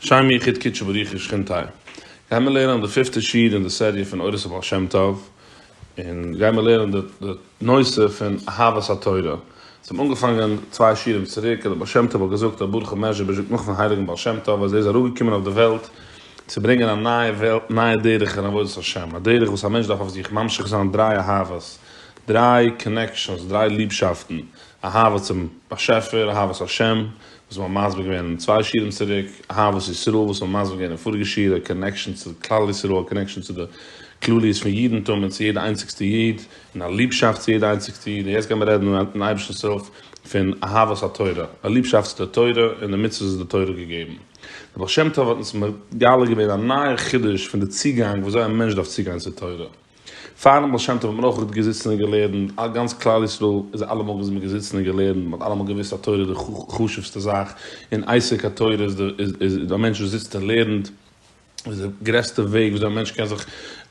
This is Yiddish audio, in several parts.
שם יחיד קודשא בריך הוא שכינתי' גייען מיר לערנען די פיפטע שיעור אין די סעריע פון אורות הבעל שם טוב, און גייען מיר לערנען די נושא פון אהבת התורה, אונז האבן אנגעפאנגען צוויי שיעורים צוריק אז דער בעל שם טוב האט געזאגט אז ברוך מעז'יבוז' זאגט נאכן הייליגן בעל שם טוב אז ער איז אראפגעקומען אויף די וועלט צו ברענגען א נייע דרך אין עבודת השם, א דרך וואס א מענטש דארף אויף זיך ממשיך זיין דריי אהבות, דריי קאנעקשאנס, דריי ליבשאפטן, אהבה צום באשעפער, אהבת השם, וואס מ'האט מסביר געווען צוויי שיעורים צוריק, אהבת ישראל וואס מ'האט מסביר געווען אין פאריגע שיעור, א קאנעקשאן צו כלל ישראל, א קאנעקשאן צו די כלליות פון אידנטום און צו יעדע איינציגסטע איד, און א ליבשאפט צו יעדע איינציגסטע איד, און יעצט גיימיר רעדן אינעם אייבערשטנ'ס הילף פון אהבת התורה, א ליבשאפט צו די תורה און די מצוות וואס די תורה האט געגעבן. דער בעל שם טוב האט אונז מגלה געווען א נייע חידוש פון די צוגאנג ווי אזוי א מענטש דארף צוגיין צו תורה. פארן בעל שם טוב האט מען אויך גוט געזיצן און געלערנט, א גאנץ כלל ישראל איז אלעמאל געווען זעמיר געזיצן און געלערנט, מען האט אלעמאל געוויסט אז תורה איז די חשובסטע זאך, און עסק התורה איז איז א מענטש וואס זיצט און לערנט, איז די גרעסטע וועג וויאזוי א מענטש קען זיך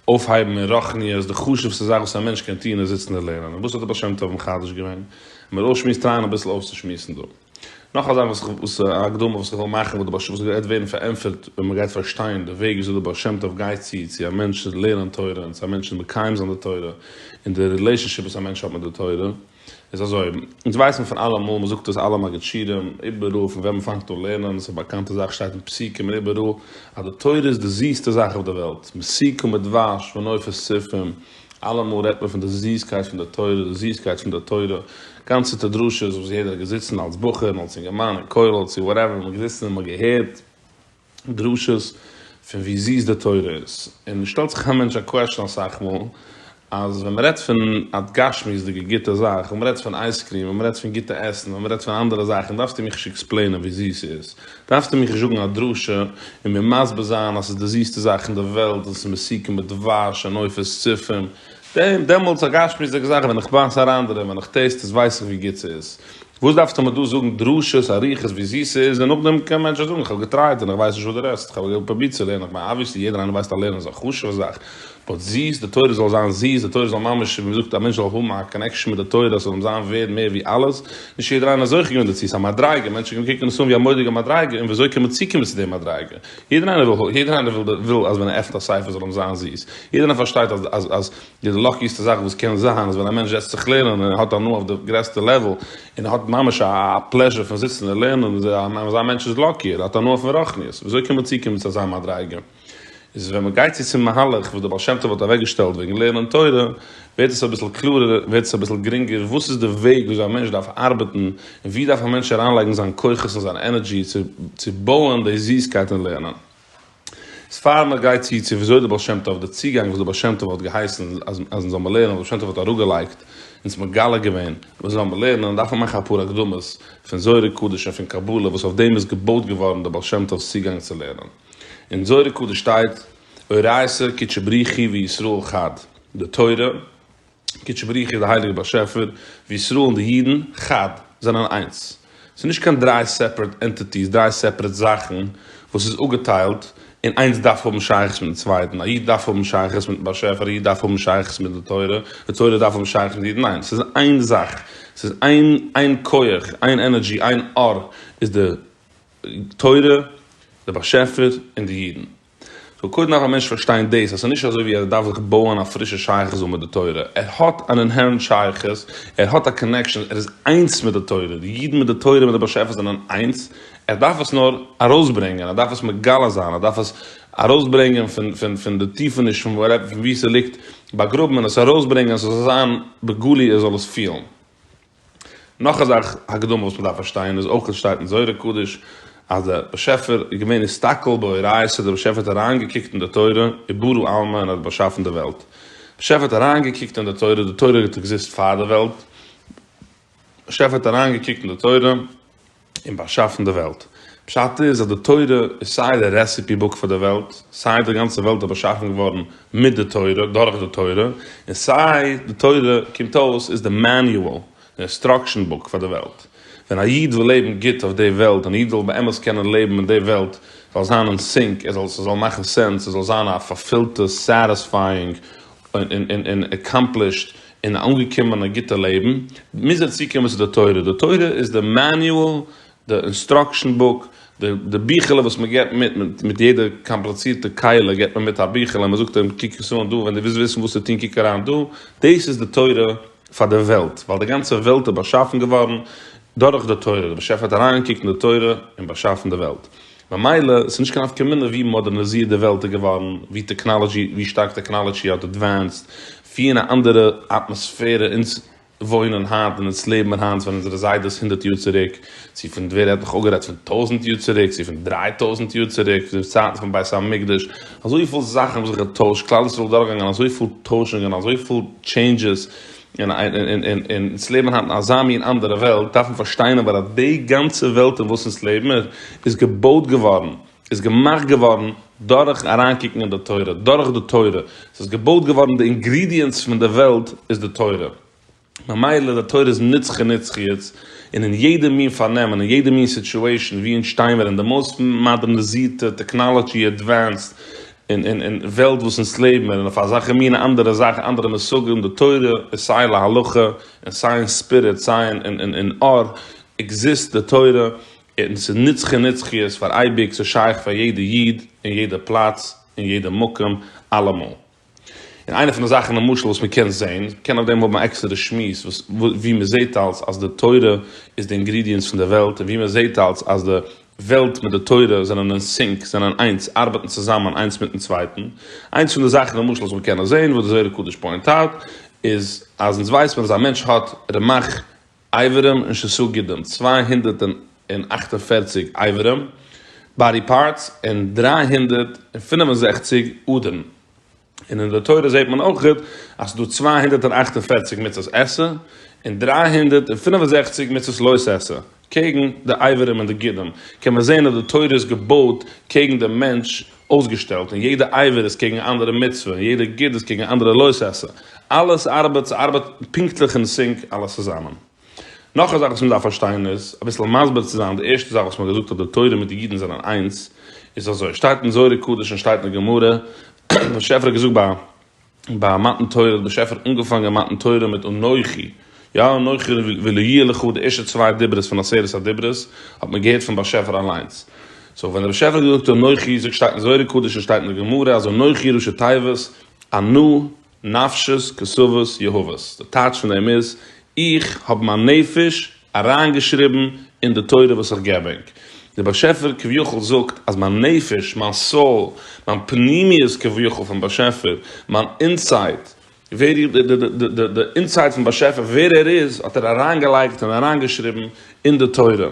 אויפהייבן אין רוחניות, די חשובסטע זאך וואס א מענטש קען טון איז זיצן און לערנען, און וואס האט דער בעל שם טוב מחדש געווען? מ'וועט אויסשמועסט טרייען אביסל אויסצושמועסן דא. נאך א זאך וואס איך וואס א הקדמה וואס איך וויל מאכן וואס די בעש ט וואס גייט ווערן פארענטפערט ווען מען גייט פארשטיין די וועג וויאזוי די בעל שם טוב גייט צו צו א מענטש צו לערנען תורה און צו א מענטש צו מקיים זיין די תורה און די רילעישאנשיפ וואס א מענטש האט מיט די תורה איז אזוי אונז ווייסן פון אלעמאל מען זאגט עס אלע מגיד שיעורים איבעראל פון ווען מען פאנגט אן לערנען עס איז א באקאנטע זאך שטייט אין פסוקים און איבעראל אז די תורה איז די זיסטע זאך אויף די וועלט מסוכם מדבש ונופת צופים אלעמאל רעדט מען פון די זיסקייט פון די תורה, די זיסקייט פון די תורה, גאנצעטע דרשות וואס יעדער האט געזיצן אלס בחור און אלס אינגערמאן אין כולל צו וואטעווער, מען האט געזיצן און מען האט געהערט דרשות פון ווי זיס די תורה איז, און עס שטעלט זיך א מענטש א קוועשאן אסאך מאל, אז ווען מען רעדט פון א גשמיות'דיגע גוטע זאך, ווען מען רעדט פון אייזקריעם, ווען מען רעדט פון גוטע עסן, ווען מען רעדט פון אנדערע זאכן, דארפסטו מיך נישט עקספלעינען ווי זיס ס'איז, דארפסטו מיך נישט זאגן א דרשה און מיר מסביר זיין אז ס'איז די זיסטע זאך אין די וועלט און ס'איז מסוכן מיט דבש און עופות צופים, דעם דעמאלטס א גשמיות'דיגע זאך ווען איך בייס אריין דערין ווען איך טעסט עס ווייס איך ווי גוט ס'איז, וואס דארפסטו מיר דא זאגן דרשות אריכות ווי זיס ס'איז און נאכדעם קען מענטשן זאגן איך האב געטרייט און איך ווייס נישט וואס דו רעדסט, איך האב פרובירט צו לערנען, כ'מיין אבוויעסלי יעדער איינער ווייסט אז לערנען איז א חשוב'ע זאך, באט זיס, די תורה זאל זיין זיס, די תורה זאל ממש, ווי מ'זאגט, א מענטש זאל האבן א קאנעקשאן מיט די תורה, עס זאל אים זיין ווערד מער ווי אלעס, נישט יעדער איינער איז זוכה געווען דערצו, עס איז א מדריגה, מענטשן קומען קוקן עס אן ווי א מורא'דיגע מדריגה, און ווי אזוי קען מען צוקומען צו די מדריגה, יעדער איינער וויל, יעדער איינער וויל, וויל אז ווען ער עפנט א ספר זאל אים זיין זיס, יעדער איינער פארשטייט אז, אז, אז די לאקיסטע זאך וואס קען זיין איז ווען א מענטש זעצט זיך לערנען און ער האט הנאה אויף די גרעסטע לעוועל, און ער האט ממש א פלעזשער פון זיצן און לערנען, אזא מענטש איז לאקי, ער האט הנאה פון רוחניות, ווי אזוי קען מען צוקומען צו אזא מדריגה? איז ווען מ'גייט צו צום מהלך וואס דער בעל שם טוב האט אוועקגעשטעלט וועגן לערנען תורה, ווערט עס אביסל קלארער, ווערט עס אביסל גרינגער, וואס איז די וועג וויאזוי א מענטש דארף ארבעטן, און ווי דארף א מענטש אריינלייגן זיין כוחות און זיין ענערדזשי צו צו בויען די זיסקייט אין לערנען. איז פאר מ'גייט צו צו וויאזוי דער בעל שם טוב, דער צוגאנג וואס דער בעל שם טוב האט געהייסן אז אז אונז זאל מען לערנען, דער בעל שם טוב האט אראפגעלייגט, אונז מגלה געווען, וואס זאל מען לערנען, דארף מען מאכן אפאר הקדמות פון זוהר הקדוש און פון קבלה וואס אויף דעם איז געבויט געווארן דער בעל שם טוב'ס צוגאנג צו לערנען. אין זוהר הקדוש שטייט אורייתא קדשא בריחי וישראל חד, די תורה, קדשא בריחי די הייליגע באשעפער, וישראל און די אידן, חד, זענען איינס. ס'איז נישט קיין דריי סעפערעט ענטיטיס, דריי סעפערעט זאכן וואס איז אפגעטיילט, און איינס דארף האבן שייכות מיטן צווייטן, א איד דארף האבן שייכות מיטן באשעפער, א איד דארף האבן שייכות מיט די תורה, די תורה דארף האבן שייכות מיט אידן, ניין, ס'איז איין זאך, ס'איז איין, איין כח, איין ענערדזשי, איין אור איז די תורה, די באשעפער, און די אידן. סאו קודם דארף א מענטש פארשטיין דאס אז ס'איז נישט אזוי ווי ער דארף זיך בויען א פרישע שייכות זאל מיט די תורה, ער האט אן אינהערענט שייכות, ער האט א קאנעקשאן, ער איז איינס מיט די תורה, די אידן מיט די תורה מיט די באשעפער זענען איינס, ער דארף עס נאר ארויסברענגען, ער דארף עס מגלה זיין, ער דארף עס ארויסברענגען פון די טיפעניש פון וואו ס'ליגט באגראבן און עס ארויסברענגען אז ס'זאל זיין בגלוי ער זאל עס פילן. נאך א זאך הקדמה וואס מ'דארף פארשטיין איז אויך עס שטייט אין זוהר הקדוש אז דער באשעפער איז געווען הסתכל באורייתא דער באשעפער האט אריינגעקוקט אין די תורה און ברא עלמא און האט באשאפן די וועלט באשעפער האט אריינגעקוקט אין די תורה די תורה האט עקזיסט פאר די וועלט באשעפער האט אריינגעקוקט אין די תורה. און באשאפן די וועלט. פשט איז אז די תורה איז סיי די רעסיפי בוק פאר די וועלט, סיי די גאנצע וועלט איז באשאפן געווארן מיט די תורה, דורך די תורה, און סיי די תורה קומט אויס איז די מעניועל, די אינסטראקשען בוק פאר די וועלט. ווען א איד וויל לעבן גוט אויף די וועלט, ווען א איד וויל באמת קענען לעבן אין די וועלט זאל זיין אין סינק, עס זאל מאכן סענס, עס זאל זיין א פארפילטע, סעטיספייאינג, און עקאמפלישט און אנגעקומען א גוטע לעבן, מוז ער צוקומען צו די תורה, די תורה איז די מעניועל, די אינסטראקשען בוק, די ביכעלע וואס מען געבט מיט, מיט יעדע קאמפליצירטע קהלה געבט מען מיט א ביכעלע און מען זאגט אים קוק עס אן דא, ווען דו ווילסט וויסן וואס צו טון קוק אריין דא, דאס איז די תורה פאר די וועלט, ווייל די גאנצע וועלט איז באשאפן געווארן דורך די תורה, דער באשעפער האט אריינגעקוקט אין די תורה און באשאפן די וועלט. ממילא עס איז נישט קיין נפקא מינה ווי מאדערנעזירט די וועלט איז געווארן, ווי טעקנאלעדזשי, ווי שטארק טעקנאלעדזשי האט עדווענסד, ווי אין א אנדערע אטמאספערע אונז וואוינען היינט און אונז לעבן און היינט ווען אונזערע זיידעס הונדערט יאר צוריק, צו פון ווער האט נאך אפגערעדט פון טויזענט יאר צוריק, צו פון דריי טויזענט יאר צוריק, צו די צייטן פון בית המקדש, אזויפיל זאכן האבן זיך געטוישט, כלל ישראל איז דורכגעגאנגען אזויפיל טוישונגען, אזויפיל טשעינדזשעס, און אונז לעבן היינט אין אזא מין אנדערע וועלט, דארף מען פארשטיין אבער אז די גאנצע וועלט אין וואס אונז לעבן איז געבויט געווארן, איז געמאכט געווארן דורך אריינקוקן אין די תורה, דורך די תורה. עס איז געבויט געווארן, די אינגרידיענטס פון די וועלט איז די תורה. ממילא די תורה איז נצחי נצחיות, און אין יעדע מין פארנעם און אין יעדע מין סיטועשאן ווי אונז שטיי מיר אין די מאוסט מאדערנעזירטע טעקנאלעדזשי עדווענסד און און און וועלט וואס אונז לעבן און אויף אזאלכע מינע אנדערע זאכן אנדערע מושגים די תורה איז סיי להלכה און סיי אין ספיריט סיי אין אין אין אין אור עקזיסט די תורה און ס'איז נצחי נצחיות פאר אייביג ס'איז שייך פאר יעדע איד אין יעדע פלאץ אין יעדע מקום אלעמאל. און איינע פון די זאכן למשל וואס מ'קען זעהן, מ'קען אויף דעם האבן א עקסטערע שמועס, וואס וואו מ'זעהט אלס אז די תורה איז די אינגרידיענס פון די וועלט און וואו מ'זעהט אלס אז די וועלט מיט די תורה זענען אין סינק, זענען איינס, ארבעטן צוזאמען איינס מיטן צווייטן. איינס פון די זאכן למשל וואס מיר קענען זען וואס די זוהר הקדוש פוינט אוט איז אז אונז ווייס מען אז א מענטש האט רמח איברים און שסה גידים, צוויי הונדערט און אַכט און פֿערציק איברים, באדי פארטס, און דרײַ הונדערט און פֿינף און זעכציק אדערן. און אין די תורה זעט מען אויך אז ס'איז דא צוויי הונדערט און אַכט און פֿערציק מצות עשה, און דרײַ הונדערט און פֿינף און זעכציק מצות לא תעשה, קעגן די עברים און די גידים, קען מען זען אז די תורה איז געבויט קעגן דעם מענטש אויסגעשטעלט, און יעדע עבר איז קעגן אן אנדערע מצוה, און יעדע גיד איז קעגן אן אנדערע לא תעשה, אלעס ארבעט, ס'ארבעט פונקטליך אין סינק אלעס צוזאמען. נאך א זאך וואס מען דארף פארשטיין איז, אביסל מסביר צו זיין די ערשטע זאך וואס מען האט געזאגט אז די תורה מיט די אידן זענען איינס, איז אזוי, שטייט אין זוהר הקדוש און שטייט אין די גמרא, באשעפער האט געזאגט ביי ביי מתן תורה, האט באשעפער אנגעפאנגען מתן תורה מיט אנכי, יא אנכי ולא יהיה לך, די ערשטע צוויי דיברות פון עשרת הדיברות האט מען געהערט פון באשעפער אליינס, סאו ווען דער באשעפער האט געזאגט אנכי, זאגט שטייט אין זוהר הקדוש און שטייט אין די גמרא אז אנכי ראשי תיבות, אנא, נפשות כסאות יהבות, די טייטש פון דעם איז, איך האב מיין נפש אריינגעשריבן אין די תורה וואס איך געבענק. דער באשעפער כביכול זאגט אז מיין נפש, מיין soul, מיין פנימיות כביכול פון באשעפער, מיין אינסייד, ווער איך, די די די אינסייד פון באשעפער ווער ער איז האט ער אריינגעלייגט און אריינגעשריבן אין די תורה.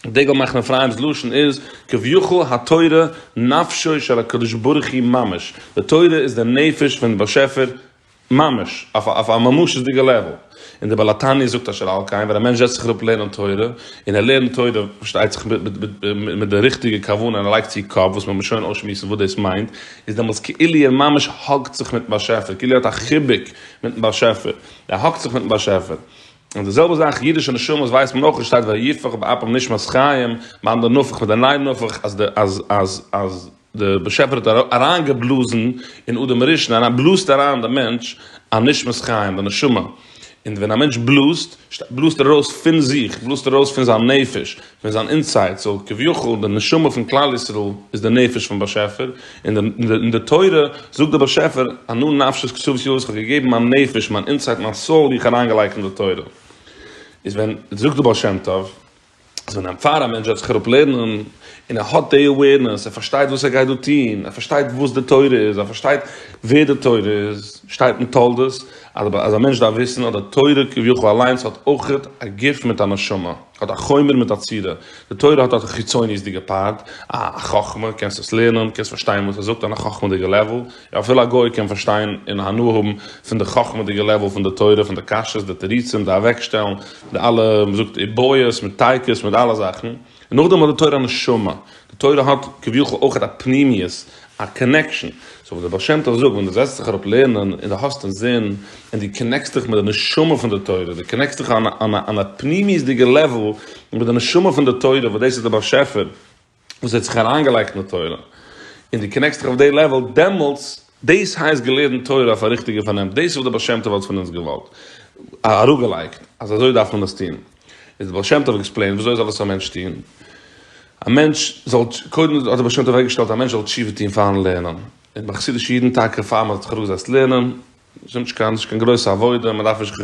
דגל מחנה אפרים'ס לשון איז כביכול התורה נפשו של הקדוש ברוך הוא ממש, די תורה איז די נפש פונעם באשעפער ממש, אויף א ממשות'דיגע לעוועל. און דער בעל התניא זאגט אשר על כן, ווען א מענטש זעצט זיך אראפ לערנען תורה, און ער לערנט תורה פארשטייט זיך מיט די ריכטיגע כוונה און ער לייגט צו קאפ, וואס מען וועט שוין אויסשמועסן וואס דאס מיינט, איז דעמאלטס כאילו ער ממש האגט זיך מיט'ן באשעפער, כאילו ער האט א חיבוק מיט'ן באשעפער, ער האגט זיך מיט'ן באשעפער. און די זעלבע זאך אידישע נשמות ווייסט מען אויך עס שטייט ויהפך באפם נשמת חיים מיין די נפח מיט די ניין נפח אז די אז אז אז די באשעפער האט אריינגעבלאזן אין אדם הראשון אריין בלאזט אריין די מענטש א נשמת חיים די נשמה און ווען א מענטש בלאזט בלאזט ער ארויס פון זיך בלאזט ער ארויס פון זיין נפש ווען זיין אינסייד זאל כביכול די נשמה פון כלל ישראל איז די נפש פון באשעפער, אין די תורה זאגט די באשעפער ענו נפשי את כתובת ידו איך האב געגעבן מיין נפש מיין אינסייד מיין סאול איך אריינגעלייגט אין די תורה, איז ווען זאגט די בעל שם טוב אז ווען פאר א מענטש וועט זיך אראפ לערנען און ער האט די אווערנעס ער פארשטייט וואס ער גייט דא טון ער פארשטייט וואס די תורה איז ער פארשטייט ווער די תורה איז שטייט אין תולדות אז א מענטש דארף וויסן אז די תורה כביכול אליינס האט אויך א גוף מיט א נשמה. האט א חומר מיט א צורה, די תורה האט א חיצוניות'דיגע פארט, א חכמה, קענסט עס לערנען, קענסט פארשטיין וואס עס זאגט אן א חכמה'דיגע לעוול, יא אפילו א גוי קען פארשטיין און הנאה האבן פון די חכמה'דיגע לעוול פון די תורה, פון די קשיא'ס, די תירוצים, די אוועקשטעלן, די אלע, מען זאגט עיבויות, מיט טייקעס, מיט אלע זאכן, און נאכדעם האט די תורה א נשמה, די תורה האט כביכול אויך א פנימיות, א קאנעקשאן, סאו וואס דער בעל שם טוב זאגט, ווען דו זעצט זיך אראפ לערנען און דו האסט אינזין און דו קאנעקסט דיך מיט די נשמה פון די תורה, דו קאנעקסט דיך אן א פנימיות'דיגע לעוועל מיט די נשמה פון די תורה וואס דאס איז דער באשעפער וואס האט זיך אריינגעלייגט אין די תורה, און דו קאנעקסט דיך אויף די לעוועל, דעמאלטס, דאס הייסט געלערנט תורה אויף א ריכטיגע פארנעם, דאס איז וואס דער בעל שם טוב האט פון אונז געוואלט, אראפגעלייגט, אז אזוי דארף מען עס טון. איז דער בעל שם טוב עקספלעינט וויאזוי זאל עס א מענטש טון, א מענטש זאל, קודם האט דער בעל שם טוב אוועקגעשטעלט א מענטש זאל תשובה טון פארן לערנען, און ביי חסידישע אידן טאקע פאר מען האט זיך אראפגעזעצט לערנען, עס איז נישט קיין נישט קיין גרויסע עבודה, מען דארף נישט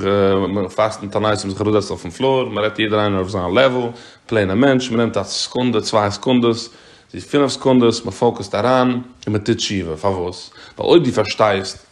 פאסטן תענית און זיך אראפזעצן אויפן פלאר, מען רעדט יעדער איינער אויף זיין לעוועל, פלעינע מענטש, מען נעמט א סעקונדע, צוויי סעקונדעס, צו פינף סעקונדעס, מען פאוקעסט אריין, און מען טוט תשובה, פארוואס? ווייל אויב דו פארשטייסט.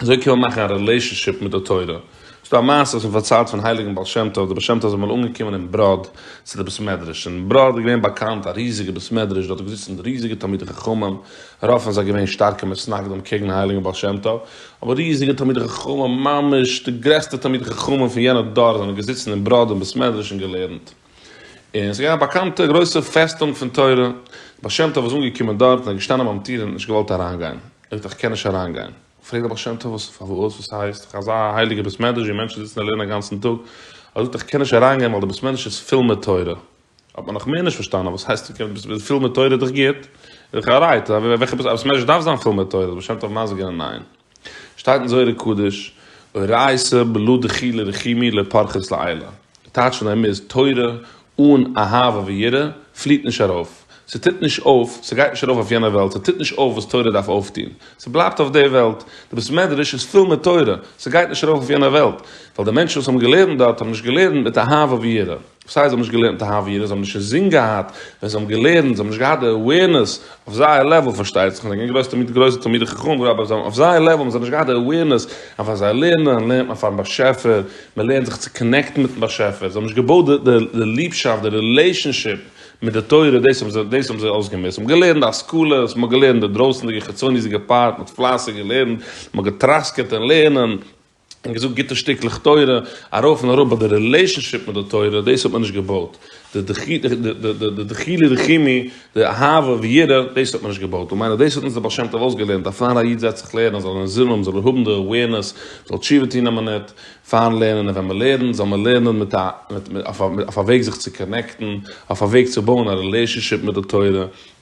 אזוי קען מען מאכן א רילעישאנשיפ מיט די תורה. עס איז דא א מעשה וואס מען פארציילט פון הייליגן בעל שם טוב, דער בעל שם טוב איז אמאל אנגעקומען אין בראד צו די בית מדרש, אין בראד איז געווען באקאנט א ריזיגע בית מדרש, דארט איז געזיצן ריזיגע תלמידי חכמים, רוב פון זיי געווען שטארקע מתנגדים קעגן הייליגן בעל שם טוב, אבער ריזיגע תלמידי חכמים ממש די גרעסטע תלמידי חכמים פון יענע דור זענען געזיצן אין בראד אין בית מדרש און געלערנט. און עס איז געווען א באקאנטע גרויסע פעסטונג פון תורה, דער בעל שם טוב איז אנגעקומען דארט און איז געשטאנען ביים טיר און נישט געוואלט אריינגיין, ער זאגט איך קען נישט אריינגיין, פרעגט דער בעל שם טוב וואס פארוואס, וואס הייסט, דאך אזא הייליגע בית מדרש ווי מענטשן זיצן און לערנען אגאנצן טאג, ער זאגט איך קען נישט אריינגיין ווייל דער בית מדרש איז פול מיט תורה, האט מען נאך מער נישט פארשטאנען, וואס הייסט פול מיט תורה איז דאך גוט, איז דאך א רייד, וועלכע בית מדרש דארף זיין פול מיט תורה, דער בעל שם טוב מזגענען ניין. שטייט אין זוהר הקדוש, אורייתא בלא דחילא רחימי לא פרחת לעילא, די טייטש פון דעם איז, תורה אן אהבה ויראה פליט נישט ארויף, ס'טוט נישט אויף, ס'גייט נישט ארויף אויף יענע וועלט, ס'טוט נישט אויף וואס תורה דארף אויפטון, ס'בלייבט אויף די וועלט, די בית מדרש איז פול מיט תורה, ס'גייט נישט ארויף אויף יענע וועלט, ווייל די מענטשן וואס האבן געלערנט דארט האבן נישט געלערנט מיט אהבה ויראה. וואס הייסט זיי האבן נישט געלערנט א העביר? זיי האבן נישט אינזין געהאט ווען זיי האבן געלערנט, זיי האבן נישט געהאט די אווערנעס אויף זייער לעוועל, פארשטייט זיך, זיי זענען געווען גרויסע גרויסע תלמידי חכמים וכו', אבער אויף זייער לעוועל האבן זיי נישט געהאט די אווערנעס אז ווען זיי לערנען לערנט מען פארן באשעפער, מען לערנט זיך צו קאנעקטן מיטן באשעפער, זיי האבן נישט געבויט די ליבשאפט, די רילעישאנשיפ מיט די תורה, דאס האבן זיי, דאס האבן זיי אויסגעמוזט, מען האט געלערנט די השכלה, מען האט געלערנט די דרויסענדיגע חיצוניות'דיגע פארט, מען האט פלייסיג געלערנט, מען האט געטראסקעט אין לערנען, און געזאגט גוטע שטיקלעך תורה, ארויף און אראפ, באט די רילעישאנשיפ מיט די תורה, דאס האט מען נישט געבויט, די די דחילו רחימי, די אהבה ויראה, דאס האט מען נישט געבויט, און מיינער דאס האט אונז דער בעל שם טוב אויסגעלערנט, אז פאר א איד זעצט זיך לערנען, זאל ער זינען האבן, זאל ער האבן די אווערנעס, זאל תשובה טון אויב מ'נעט, פארן לערנען און ווען מ'לערנט, זאל מען לערנען מיט א, אויף א וועג זיך צו קאנעקטן, אויף א וועג צו בויען א רילעישאנשיפ מיט די תורה,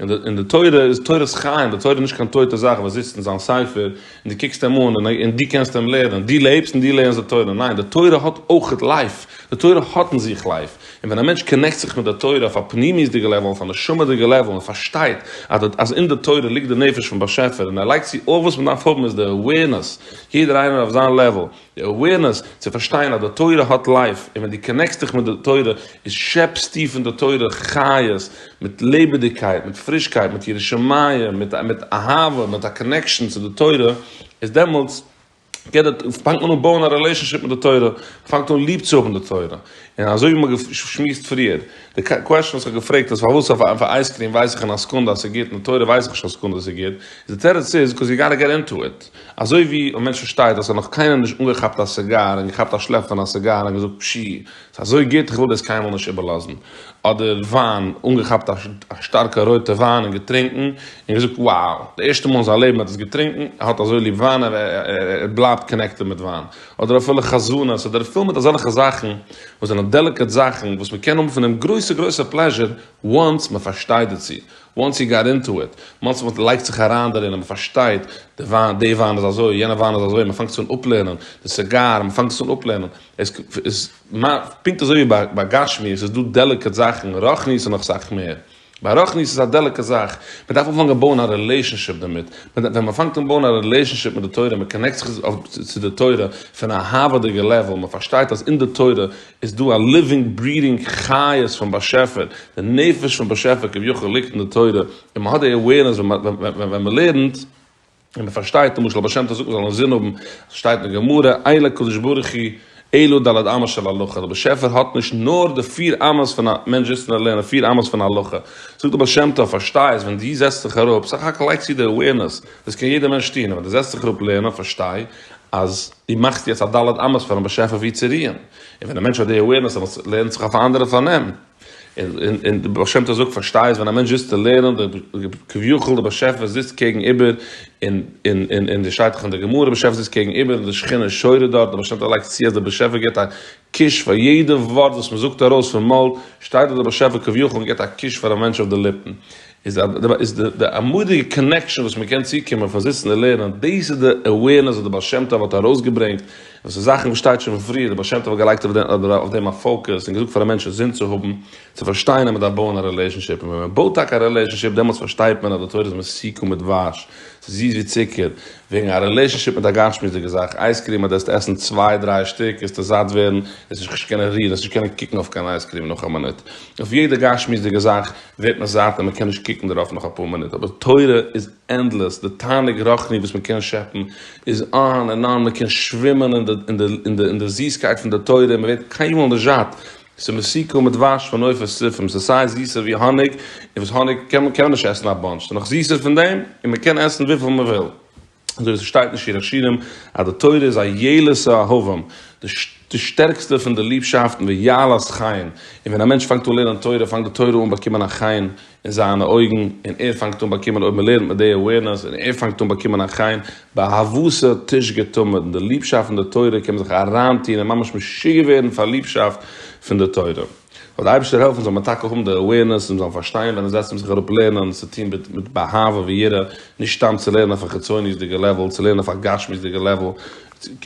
און די תורה איז תורת חיים, די תורה איז נישט קיין טויטע זאך וואס זיצט אין זיין ספר און דו קוקסט אים אן און דו קענסט אים לערנען, דו לעבסט און דו לערנסט די תורה, ניין, די תורה האט אויך לייף, די תורה האט אין זיך לייף, און ווען א מענטש קאנעקט זיך מיט די תורה אויף א פנימיות'דיגע לעוועל, אויף א נשמה'דיגע לעוועל און פארשטייט אז אין די תורה ליגט די נפש פון באשעפער און ער לייגט צו אויך וואס מען דארף האבן איז די אווערנעס, יעדער איינער אויף זיין לעוועל. די אווערנעס צו פארשטיין אז די תורה האט לייף און ווען דו קאנעקסט דיך מיט די תורה איז שעפסטו פון די תורה חיות מיט לעבעדיגקייט מיט פרישקייט מיט יראת שמים מיט מיט אהבה מיט א קאנעקשאן צו די תורה איז דעמאלטס געט די פאנגט מען אן בויען א רילעישאנשיפ מיט די תורה מ'פאנגט אן ליב צו האבן די תורה און אזוי ווי מ'האט געשמועסט פריער די קוועשאן וואס כ'האב געפרעגט אז פארוואס אויף אויף אייזקרים ווייס איך אין א סעקונדע אז ס'איז גוט און אויף תורה ווייס איך נישט קיין סעקונדע אז ס'איז גוט די תירוץ איז קאוז יו גאטע געט אינטו איט. אזוי ווי ווען מענטש פארשטייט אז ער האט נאך קיינעם נישט אנגעכאפט א סיגאר און געכאפט א שלעפ פון א סיגאר און געזאגט פשי ס'איז אזוי גוט איך וויל דאס קיינמאל נישט איבערלאזן, אדער וויין אנגעכאפט א שטארקע רויטע וויין און געטרינקן און געזאגט wow די ערשטע מאל אין זיין לעבן ער האט עס געטרינקן ער האט אזוי ליב וויין ער בלייבט קאנעקטעד מיט וויין, אדער אפילו חזנות אדער ער פילט מיט אזעלכע זאכן וואס זענען דעליקעט זאכן וואס מ'קען האבן פון אים גרויסע גרויסע פלעזשער once מ'פארשטייט דערצו. וואנס יו גאט אינטו איט, מאנסי וואנס מען לייגט זיך אריין דערין און מען פארשטייט, די וויין, די וויין איז אזוי, יענע וויין איז אזוי, מען פאנגט עס אן אפלערנען, די סיגאר, מען פאנגט עס אן אפלערנען, עס איז, פונקט אזוי ווי ביי ביי גשמיות איז דא דעליקעט זאכן, רוחניות איז נאך סאך מער. ביי רוחניות איז א דעליקעט זאך, מען דארף אנפאנגען בויען א רילעישאנשיפ דערמיט, ווען מען פאנגט אן בויען א רילעישאנשיפ מיט די תורה, מען קאנעקט זיך צו די תורה פון א אהבה'דיגע לעוועל, מען פארשטייט אז אין די תורה, איז דא א ליווינג ברידינג חיות פון באשעפער, די נפש פון באשעפער כביכול ליגט אין די תורה, און מ'האט די עווערנעס ווען מ'לערנט, און מ'פארשטייט, למשל הבעשמ ט זאגט מ'זאל אינזין האבן, ס'שטייט אין גמרא, אין לקדוש ברוך הוא אלא ד' אמות של הלכה, דער באשעפער האט נישט נאר די פיר אמות פון א, מענטש זיצט און ער לערנט די פיר אמות פון הלכה, זאגט די בעשמ ט פארשטיי עס, ווען דו זעצט זיך אראפ, סך הכל לייגסטו די עווערנעס, דאס קען יעדער מענטש טון, ווען דו זעצט זיך אראפ לערנען, פארשטיי, אז דו מאכסט יעצט א ד' אמות פארן באשעפער וואו צו רוען, און ווען א מענטש האט די awareness אז עס לערנט זיך אויף א אנדערע פארנעם, און און די בעל שם טוב זאגט פארשטייסט ווען א מענטש זיצט צו לערנען די כביכול די באשעפער זיצט קעגן איבער, און און און און די שטייט דאך אין די גמרא באשעפער זיצט קעגן איבער און די שכינה שורה דארט די בעל שם טוב לייגט צו אז די באשעפער גיבט א קיש פאר יעדע ווארט וואס מען זאגט ארויס פון מויל שטייט דארט די באשעפער כביכול און גיבט א קיש פאר א מענטש אויף די ליפן. איז די אמאליגע קאנעקשאן וואס מען קען צוקומען פאר זיצן און לערנען, דאס איז די אווערנעס וואס דער בעל שם טוב האט ארויסגעברענגט, און ס'איז זאכן וואס שטייט שוין פון פריער, דער בעל שם טוב האט געלייגט אויף דעם א פאוקעס און געזאגט פאר א מענטש א זין צו האבן, צו פארשטיין אז מען דארף בויען א רילעישאנשיפ, און ווען מען בויט טאקע א רילעישאנשיפ דעמאלטס פארשטייט מען אז די תורה איז מסוכם מיט דבש, ס'איז זיס ווי צוקער, וועגן א רילעישאנשיפ מיט א גשמיות'דיגע זאך, אייזקריעם אז דו העסט עסן צוויי דריי שטיק העסטו זאט ווערן, העסט נישט קיין קישקע קענען רירן, העסט נישט קענען קוקן אויף קיין אייזקריעם נאך א מינוט, אויף יעדע גשמיות'דיגע זאך ווערט מען זאט און מען קען נישט קוקן דערויף נאך אפאר מינוט, אבער תורה איז ענדלעס, די תענוג רוחני וואס מען קען שעפן איז אן ענד אן, מען קען שווימען אין די זיסקייט פון די תורה און מען ווערט קיינמאל נישט זאט, ס'איז מסיקא מדבש פון עופות טריפים, ס'איז סיי זיסער ווי האניג, און וואס האניג קען מען נישט עסן א באנטש, ס'איז נאך זיסער פון דעם, און מען קען עסן וויפיל מען וויל. אזוי ווי עס שטייט אין שיר השירים אז די תורה איז א יעלה ס' אהבים, די שטערקסטע פון די ליבשאפטן, ויעלה ס' חיים, און ווען א מענטש פאנגט אן לערנען תורה פאנגט די תורה אן באקומען א חן אין זיינע אויגן, און ער פאנגט אן באקומען אויב מען לערנט מיט די awareness און ער פאנגט אן באקומען א חן, באהבתו תשגה תמיד, און די ליבשאפט פון די תורה קען מען זיך אריינטון און ממש משוגע ווערן פאר ליבשאפט פון די תורה. זאל די אייבערשטער העלפן זאל מען טאקע האבן די אווערנעס און זאלן פארשטיין ווען עס זעצט מען זיך אראפ לערנען צו טון מיט באהבה ויראה, נישט סתם צו לערנען אויף א חיצוניות'דיגע לעוועל, צו לערנען אויף א גשמיות'דיגע לעוועל,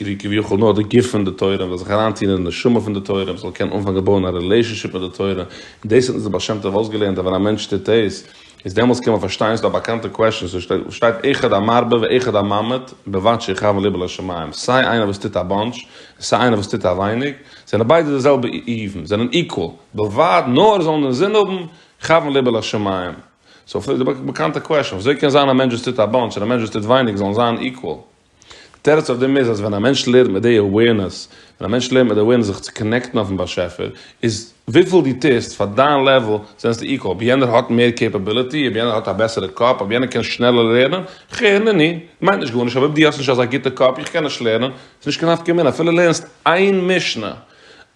ווי כביכול נאר די גוף פון די תורה, מען זאל זיך אריין טון אין די נשמה פון די תורה, מען זאל קענען אנפאנגען בויען א רילעישאנשיפ מיט די תורה, און דאס האט אונז דער בעל שם טוב אויסגעלערנט אז ווען א מענטש טוט דאס, איז דעמאלס קען מען פארשטיין, ס'איז דא א באקאנטע קוועשאן וואס שטייט אחד המרבה ואחד הממעט בבת שיכוון ליבו לשמים, סיי איינער וואס טוט א באנטש, און סיי איינער וואס טוט א ווייניג, זענען ביידע די זעלבע איוון, זענען איקוואל, בלבד נאר זאלן דעם זון האבן כוון ליבו לשמים. סאו פון די באקאנטע קוועשאן, ווי אזוי קען זיין א מענטש וואס טוט א באנטש און א מענטש וואס טוט ווייניג זאלן זיין איקוואל? די תירוץ אויף דעם איז אז ווען א מענטש לערנט מיט די אוועירנעס, ווען א מענטש לערנט מיט די אוועירנעס זיך צו קאנעקטן אויפן באשעפער, איז וויפיל דו טוסט פאר דיין לעוול זענסטו איקוואל, אויב יענער האט מער קעפעביליטי, אויב יענער האט א בעסערע קאפ, אויב יענער קען שנעלער לערנען, כ ר נ ני, מיינט נישט גארנישט, אויב דו האסט נישט אזא גוטע קאפ, איך קען נישט לערנען, ס'איז נישט קיין נפקא מינה, אפילו לערנסט איין משנה,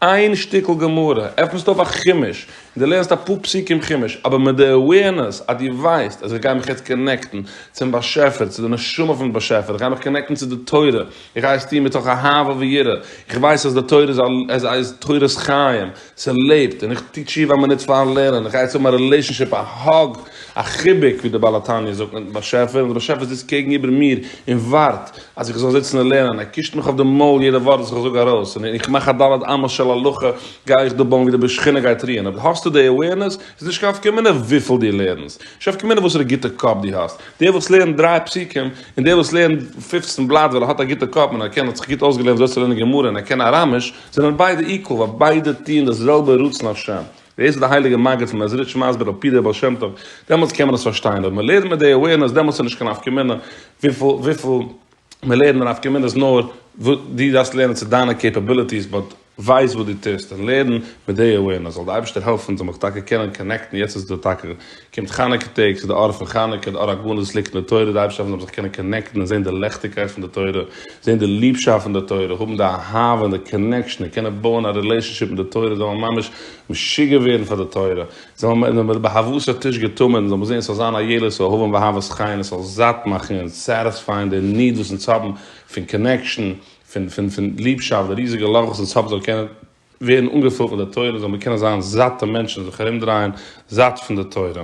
איין שטיקל גמרא, עפנסט אויף א חומש, און דו לערנסט אפאר פסוקים חומש, אבער מיט די אווערנעס אז דו ווייסט אז איך גיי מיך יעצט קאנעקטן צום באשעפער, צו די נשמה פון באשעפער, איך גיי מיך קאנעקטן צו די תורה, איך גיי עס טון מתוך אהבה ויראה, איך ווייס אז די תורה איז תורת חיים, ס'לעבט, און איך טו תשובה א מינוט פארן לערנען, איך גיי יעצט האבן א רילעישאנשיפ, א האג, א חיבוק, ווי דער בעל התניא זאגט, מיטן באשעפער, און דער באשעפער זיצט קעגן איבער מיר און ווארט אז איך זאל זיצן און לערנען, ער קישט מיך אויף די מויל יעדע ווארט וואס איך זאג ארויס, און איך מאך א ד' אמות של הלכה, גיי איך דא בויען ווי די בשכינה גייט רוען, אויב האסטו די עווערנעס, איז נישט קיין נפקא מינה וויפיל דו לערנסט, נישט נפקא מינה וואסערע גוטע קאפ דו האסט, דער וואס לערנט דריי פסוקים, און דער וואס לערנט פֿופֿצן בלאט ווייל ער האט א גוטע קאפ און ער קען, ער האט זיך גוט אויסגעלערנט ווי אזוי צו לערנען גמרא און ער קען אראמיש, זענען ביידע איקוואל ווייל ביידע טוען דאס זעלבע רצון השם. דאס איז די הייליגע מגיד פון מעזריטש מסביר על פי דער בעל שם טוב, דעמאלטס קען מען עס פארשטיין, אויב מען לערנט מיט די awareness דעמאלטס איז נישט קיין נפקא מינה וויפיל מען לערנט די נפקא מינה איז נאר דו דארפסט לערנען צו דיינע קעפעביליטיס באט ווייס וואס דו טוסט און לערן מיט די awareness זאל די אייבערשטער העלפן זאל מיך טאקע קענען קאנעקטן יעצט איז דא טאקע קומט חנוכה טעג, ס'איז די אור פון חנוכה, די אור הגנוז וואס ליגט אין די תורה, די אייבערשטער האט געזאגט מ'זאל זיך קענען קאנעקטן און זען די לעכטיגקייט פון די תורה, זען די ליבשאפט פון די תורה, האבן די אהבה און די קאנעקשאן און קענען בויען א רילעישאנשיפ מיט די תורה, זאל מען ממש משוגע ווערן פאר די תורה, זאל מען ווען מ'איז באהבהת הטיש געטומען, זאל מען זען ס'זאל זיין א ילולת אהבה ואהבת חן און ס'זאל זאט מאכן און סעטיספייען די ניד וואס אונז האבן פון קאנעקשאן, פון פון פון ליבשאפט, די ריזיגע לאך וואס אונז האבן זאל קענען ווערן אנגעפולט מיט די תורה זאל מען קענען זיין זאט די מענטשן זיך ארומדרייען זאט פון די תורה.